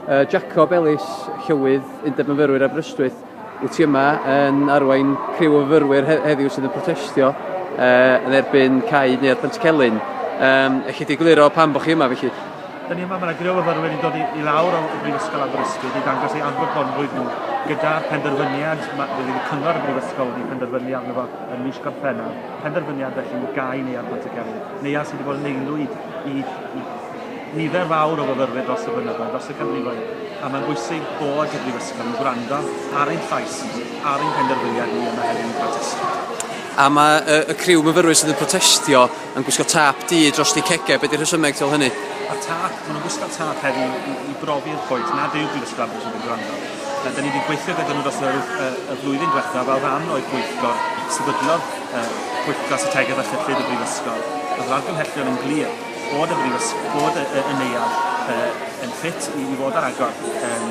Yy Jacob Ellis, Llywydd Undeb Myfyrwyr Aberystwyth, wyt ti yma yn arwain criw o fyfyrwyr he- heddiw sydd yn protestio uh, yn erbyn cau neuadd Pentcelyn. Um, Ellith di gliro pam bod chi yma felly? Dyn ni yma, mae yna griw o fyfyrwyr yn dod i, i lawr o Brifysgol Aberystwyth i ddangos ei anfogonrwydd nhw gyda'r penderfyniad mae wedi y cyngor y Brifysgol wedi penderfynu arno fo yn mis Gorffennaf, penderfyniad felly i gau neuadd Pentcelyn, neuadd sydd wedi bod yn aelwyd i, i nifer fawr o fyfyrwyr dros y blynyddoedd, dros y canrifoedd, a mae'n bwysig bod y Brifysgol yn gwrando ar ein llais ni, ar ein penderfyniad ni yma hefyd yn protestio. A mae y, y criw myfyrwyr sydd yn protestio yn gwisgo tap du dros eu cegau, beth ydy'r rhesymeg tu ôl hynny? Mae'r tap, maen nhw'n gwisgo tap hefyd i, i, i brofi'r pwynt nad yw'r Brifysgol am yn gwrando. Da ni wedi gweithio gyda nhw dros y, y flwyddyn diwethaf fel rhan o'i bwyllgor sefydlodd uh, pwyllgor strategaeth a chyllid y Brifysgol. Oedd yr argymhellion yn glir bod y brifys, bod y, y, y neuadd uh, yn ffit i, i fod ar agor um,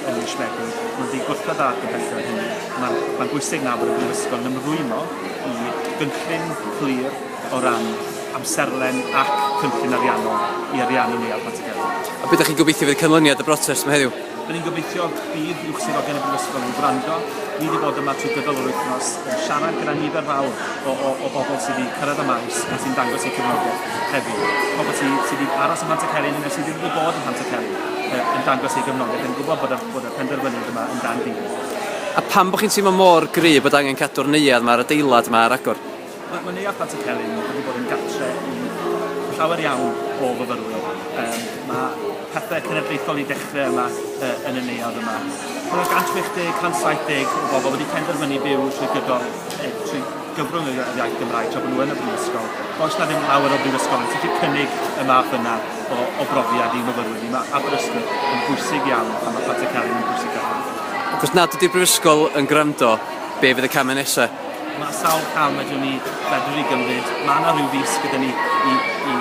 yn mis Medi. Mae'n ddi gwrthod dda ac yn pethau hynny. Mae'n ma bwysig na bod y brifysgol yn ymrwymo i gynllun clir o ran amserlen ac cynllun ariannol i ariannu neuadd Pontycelyn. A beth ydych chi'n gobeithio fydd canlyniad y brotest yma heddiw? Rydyn ni'n gobeithio bydd uwch swyddogion y Brifysgol yn gwrando. Ni wedi bod yma trwy gydol yr wythnos yn siarad gyda nifer fawr o, o, o bobl sydd wedi cyrraedd y maes a sy'n dangos eu cefnogaeth heddiw. Pobl sydd, sy wedi aros ym Mhantycelyn neu sydd wedi bod ym Mhantycelyn yn dangos eu gefnogaeth, yn gwybod bod y, bod y penderfyniad yma yn dan dîl. A pam bod chi'n teimlo mor gryf bod angen cadw'r neuadd yma a'r adeilad yma ar agor? Mae mae Neuadd Pantycelyn wedi bod yn gartre i llawer iawn o fyfyrwyr. Yym ma' pethe cenedlaethol 'di dechre yma yy yn y neuadd yma. Ma' 'na 160, 170 o bobol wedi penderfynu byw trwy gydol yy trwy gyfrwng y yr iaith Gymraeg tra bo' nw yn y brifysgol. Oes 'na ddim llawer o brifysgol yn gallu cynnig y math yna o o brofiad i myfyrwyr ni. Ma' Aberystwyth yn bwysig iawn a ma' Pantycelyn yn pwysica hynny. Ac os nad ydi'r brifysgol yn gwrando, be' fydd y came nesa? Mae sawl cam ydyn ni fedru i gymryd. Mae yna rhyw fis gyda ni i, i,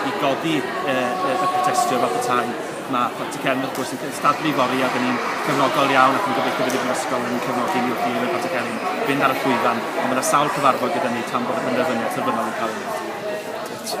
i godi y, y, y protestio fath y tai. Mae Dr Cefn wrth gwrs yn cystadlu fori a dyn ni'n gefnogol iawn ac yn gobeithio bydd y brifysgol yn cefnogi ni wrth i Rhywbeth Dr Cefn fynd ar y llwyfan. Ond mae yna sawl cyfarfod gyda ni tan bod y penderfyniad terfynol yn cael ei wneud.